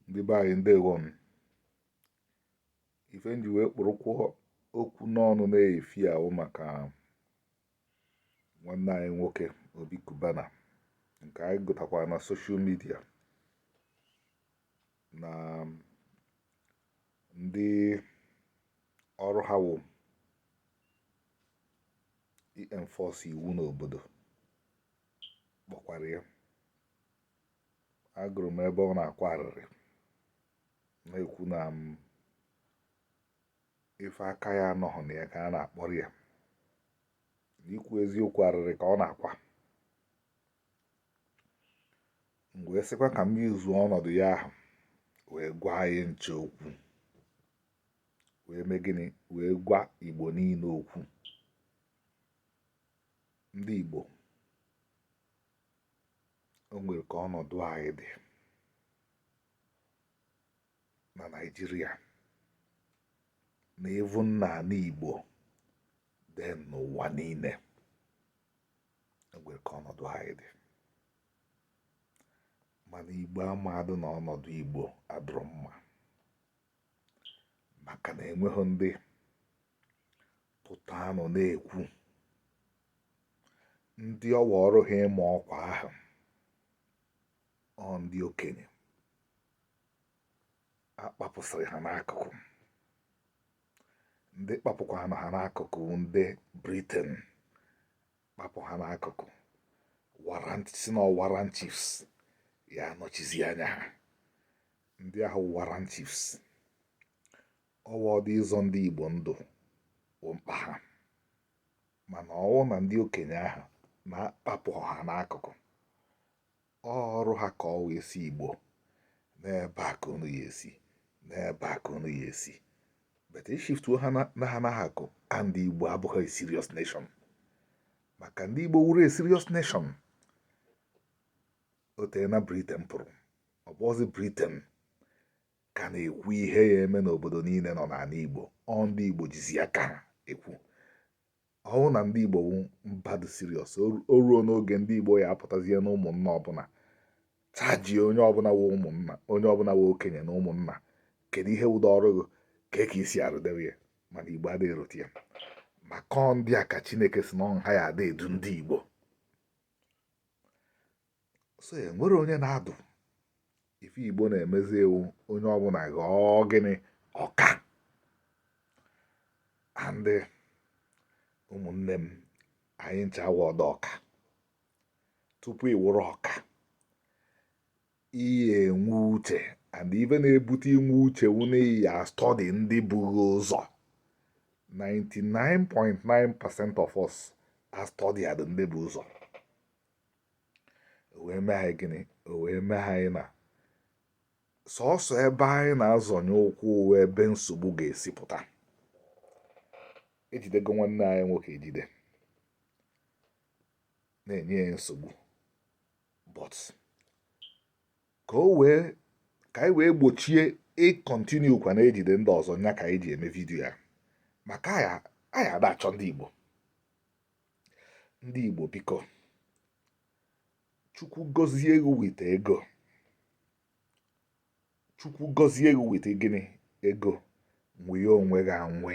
ndị be anyị ndewo nụ ife nji wee kpụrụkwa okwu n'ọnụ n'efifie a wụ maka nwanne anyị nwoke obi kubana nke anyị gụtakwara na soshal midia na ndị ọrụ ha wụ ị enforce iwu n'obodo kpọkwara ya agụrụ m ebe ọ na-akwa arịrị na-ekwu na m um, ife aka ya anọghị na ya ka a na-akpọrọ ya n'ikwu eziokwu arịrị ka ọ na-akwa m wee sịkwa ka m use ọnọdụ ya ahụ wee gwa anyị ncha okwu wee mee gịnị wee gwa igbo niile okwu ndị igbo o nwere ka ọnọdụ anyị dị na Naịjirịa na even n'ala Igbo then n'ụwa niile o nwere ka ọnọdụ anyị dị mana Igbo amadụ na ọnọdụ Igbo adịrọ mma maka na enweghị ndị pụta nọ na-ekwu ndị ọ wụ ọrụ ha ịma ọkwa ahụ ọ ndị okenye a kpapụsịrị ha n'akụkụ ndị kpapụkwanụ ha n'akụkụ ndị briten kpapụ ha n'akụkụ sị na warrant chiefs ya anọchizi anya ha ndị ahụ warrant chiefs ọ wụdị ịzọ ndị Igbo ndụ bụ mkpa ha mana ọ wụ na ndị okenye ahụ na-akpapụ ha n'akụkụ ọrụ ha ka ọ wụ ịsị Igbo n'ebe a ka unu ya esi n'ebe a ka unu ya esi but e shiftuo ha na ha n'akụkụ and Igbo abụghị serious nation maka ndị Igbo wụrụ serious nation o teena Britain pụrụ ọ bụrọzi Britain ka na-ekwu ihe ya eme n'obodo niile nọ n'ala Igbo ọ ndị Igbo jizi aka ha ekwu ọ wụ na ndị Igbo wụ mba dị serious o ruona oge ndị Igbo ya apụtazie na ụmụnna ọbụla chajie onye ọbụla wụ ụmụnna onye ọbụla wụ okenye na ụmụnna kedu ihe wụdị ọrụ gị ka ka i si arụdewe ya mana Igbo adịghị erote ya maka ọ ndị a ka Chineke sị na ọ ha ya ada edu ndị Igbo so enwere onye na-adụ ife igbo na-emezi wụ onye ọbụla ghọọ gịnị ọka and ụmụnne m anyị ncha awụọdụ ọka tupu ị wụrụ ọka ị ya-enwe uche and ife na-ebute inwe uche wụ na ị ya-astọdi ndị bu ghị ụzọ 99.9% of us astọdiọdụ ndị bu ụzọ wee mee anyị gịnị o wee mee anyị na sọsọ ebe anyị na-azọnye ụkwụ wụ ebe nsogbu ga-esi pụta ejidego nwanne anyị nwoke ejide na-enye ya nsogbu but ka anyị wee gbochie ịkọntinu kwa na-ejide ndị ọzọ nya ka anyị ji eme vidiyo a maka anyị ada achọ ndị Igbo ndị Igbo biko chukwu gọzie gị weta ego chukwu gọzie gị weta gịnị ego nweye onwe gị anwe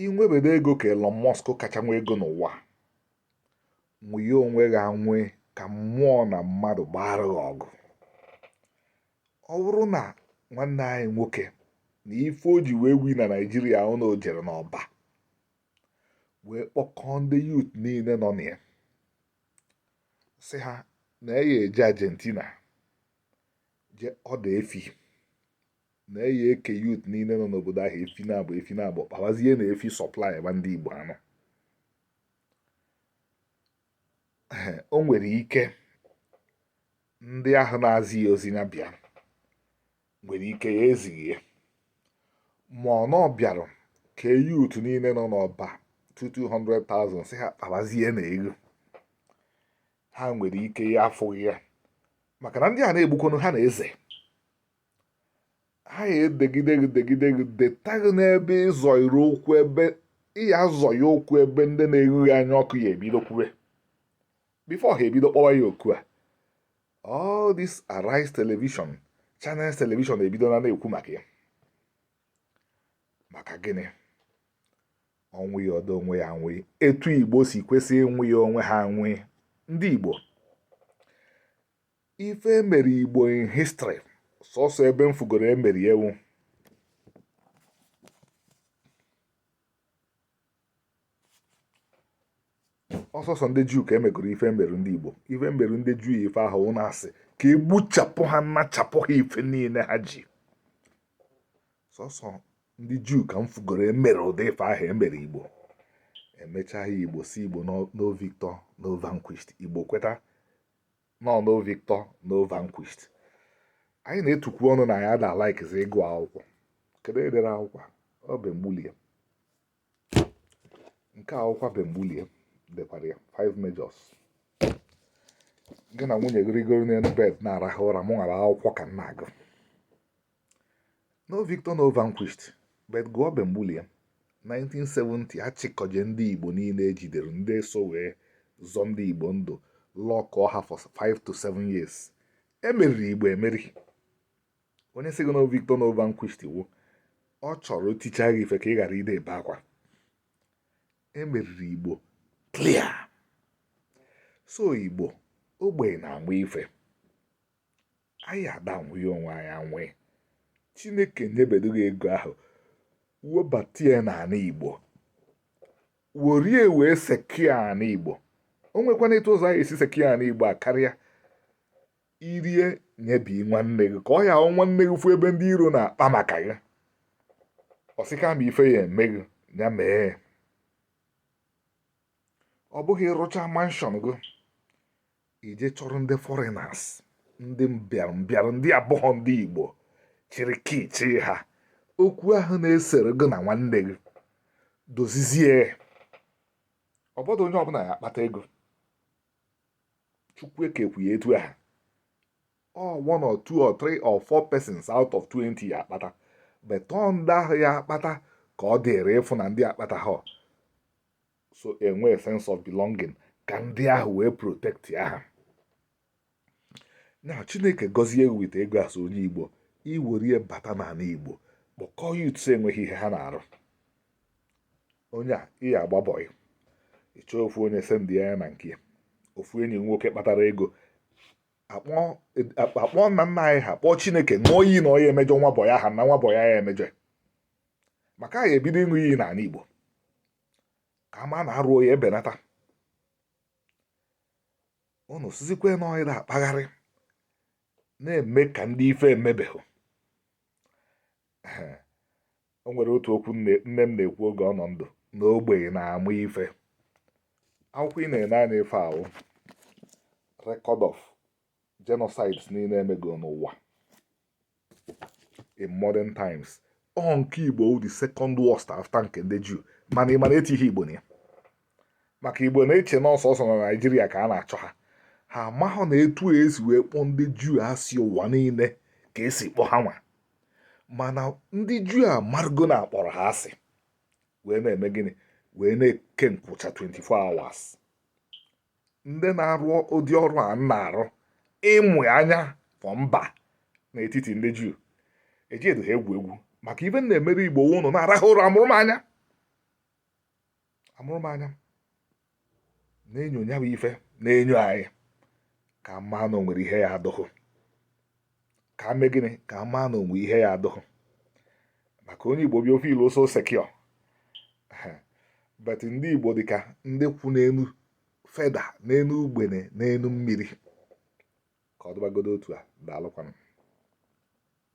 i nwebedu ego ka Elon Musk kacha nwe ego n'ụwa nweye onwe gị anwe ka mmụọ na mmadụ gbaara gị ọgụ ọ bụrụ na nwanne anyị nwoke na ife o ji wee wi na naijiria wụ na o jere n'ọba wee kpọkọọ ndị yut niile nọ na ya sị ha na ya ya-eje argentina je ọda efi na ya ya-eke yut niile nọ n'obodo ahụ efi nabọ efi nabọ kpawazie na efi sọplaiba ndị igbo anụ o nwere ike ndị ahụ na-ezi ya ozi ya bịa nwere ike ya ezighị ya mana ọ bịara kee yut niile nọ n'ọba 200,000 sị ha kpabazie na ego ha nwere ike ya afụghị ya maka na ndị a na-egbukwanụ ha na-eze ha ya edegide gị degide gị deta gị n'ebe ị zọyiri ụkwụ ebe ị ya-azọye ụkwụ ebe ndị na-ero ghị anya ọkụ ya ebido kwube bifo ha ebido kpọwa ya oku all this Arise television channels television ebido na-ekwu maka ya maka gịnị o nweyeọdụ onwe ya anwe etu igbo si kwesị inweye onwe ha anwe ndị igbo ife emere igbo in history sọsọ ebe m fugoro emeri ha wụ ọ sọsọ ndị juu ka emegoro ife meru ndị igbo ife meru ndị juu ife ahụ a na-asị ka egbuchapụ ha nachapụ ha ife niile ha ji sọsọ ndị juu ka m fugoro emere ụdị ife ahụ emere igbo emechaa ya igbo sị igbo no victor no vanquished igbo kweta na no victor no vanquished anyị na-etukwu ọnụ na ya ada laikizi ịgụ akwụkwọ kedu edere akwụkwọ ọ ben gbulie nke akwụkwọ ben gbulie dekwara ya five majors gị na nwunye gị rigoro n'elu bed na-arahụ ụra mụ nwara akwụkwọ ka m na-agụ no victor no vanquished but gụọ ben gbulie 1970 achịkọje ndị igbo niile ejidere ndị so wee zọ ndị igbo ndụ lọkọọ ha for 5 to 7 years emeriri igbo emeri onye sị gị no victor no vanquished wo ọ chọrọ ticha gị ife ka ị ghara ide ebe akwa emeriri igbo clear so igbo ogbenye na-agba ife anyị adanwụghị onwe anyị anwụghị chineke nyebedo gị ego ahụ webata ya n'ala igbo werie wee secure ala igbo o nwekwana etu ụzọ anyị esi secure ala igbo a karịa irie nyebi nwanne gị ka ọ ya abụ nwanne gị fụ ebe ndị iro na-akpa maka gị ọ sị kama ife ya eme gị ya mee ọ bụghị ịrụcha mansion gị i je chọrọ ndị foreigners ndị mbịarambịara ndị abụghọ ndị igbo chịrị key chị ha okwu ahụ na-esere gị na nwanne gị dozizie ọ bọdụ onye ọbụla ya akpata ego chukwu ekekwu ya etu ahụ ọ one or two or three or four persons out of 20 ya akpata but ọ ndị ahụ ya akpata ka ọ dịrị ịfụ na ndị akpata ha so enwe sense of belonging ka ndị ahụ wee protectia ha na chineke gọzie with ego as onye igbo i werie bata n'ala igbo kpọkọọ youths enweghị ihe ha na-arụ onye a ị ya agba boy ị chọọ ofu onye sendịa ya na nke ofu enyi nwoke kpatara ego akpọ nna nna anyị ha kpọọ chineke ṅụọ iyi na ọ ya emejọ nwa boy ahụ na nwa boy a ya emejọ maka anyị ebido ịṅụ iyi n'ala igbo ka ama na arụ ya ebenata unu sizikwe na ọyị na-akpagharị na-eme ka ndị ife emebeghị o nwere otu okwu nne nne m na-ekwu oge ọ nọ ndụ na ogbenye na-amụ ife akwụkwọ ị na-ene anya ife ahụ record of genocides niile emego n'ụwa in modern times ọ nke igbo wụ the second worst after nke ndị juu mana ị ma na etighị igbo na ya maka igbo na-eche na ọ sọọsọ na naijiria ka a na-achọ ha ha amahụ na etu esi wee kpọọ ndị juu asị ụwa niile ka esi kpọọ ha nwa mana ndị juu amarago na akpọrọ ha asị wee na-eme gịnị wee na-eke nkwụcha 24 hours ndị na-arụ ụdị ọrụ a na-arụ ịmụ anya for mba n'etiti ndị juu eji edo ha egwu egwu maka ife m na-emere igbo ụnụ na-arahụ ụra amụrụ m anya amụrụ m anya na-enyo nya bụ ife na-enyo anyị ka m ma na o nwere ihe ya adụghụ ka m mee gịnị ka m ma na o nwere ihe ya adụghụ maka onye igbo bịa feel so secure but ndị igbo dịka ndị kwụ n'elu feather n'elu ugbene n'elu mmiri ka ọ dịbagodo otu a daalụkwanụ